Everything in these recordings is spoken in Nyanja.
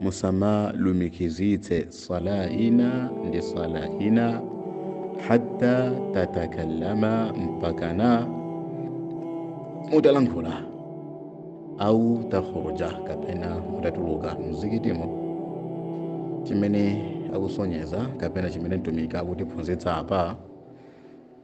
musamalumikizitse sala ina ndi sala ina hatta tatakallama mpakana mutalankhula au takhruja kapena mutatuluka mzikitimo chimene akusonyeza kapena chimene mtumiki akutiphunzitsa apa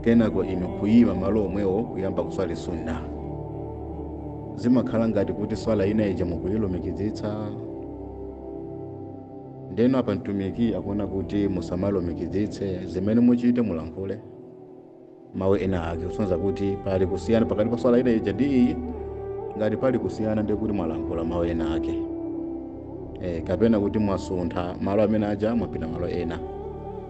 kenako inu kuyima malo omwewo kuyamba kuswali sunna zimakhala ngati kuti swala ina ija mukuyilumikizitsa ndeno apa mtumiki akunena kuti musamalumikizitse zimene muchite mulankhule mawu ena ake kusonyeza kuti pali kusiyana pakati pa swala ina ija ndi iyi ngati pali kusiyana ndiye kuti mwalankhula mawu ena ake e, kapena kuti mwasuntha malo amene aja mwapita malo ena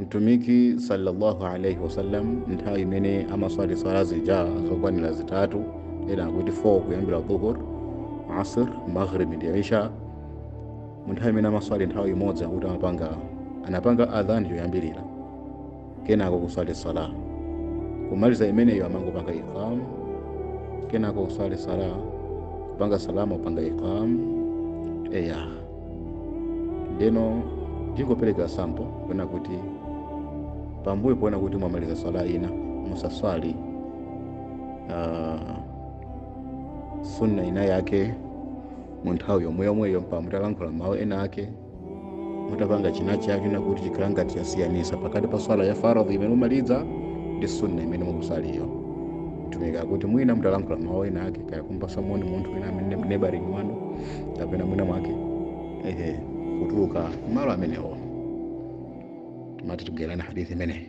Mtumiki sallallahu alaihi wasallam nthawi imene amaswali swala zija zokwanira zitatu ena akuti 4 kuyambira dhuhur asr maghrib ndi isha munthawi imene amaswali nthawi imodzi akuti amapanga anapanga adhan yoyambirira kenako kuswali sala kumaliza imeneyo amangopanga iqam kenako kuswali sala kupanga salamu kupanga iqam eya ndeno tingopereka sample kuona kuti pambuyo ponena kuti mwamaliza swala ina musaswali uh, sunna ina yake mu nthawi yomweyomweyo mpaka mutalankhula mawu ena ake mutapanga china chake kuti chikhala ngati chasiyanisa pakati pa swala ya faradhi imene mumaliza ndi sunna imene mukuswaliyo tumika kuti mwina mutalankhula mawu ena ake kaya kumpatsa moni munthu wina amene nebaringi wanu kapena mwina mwake ehe kutuluka malo amenewo mati tibwerani hadithi imeneyi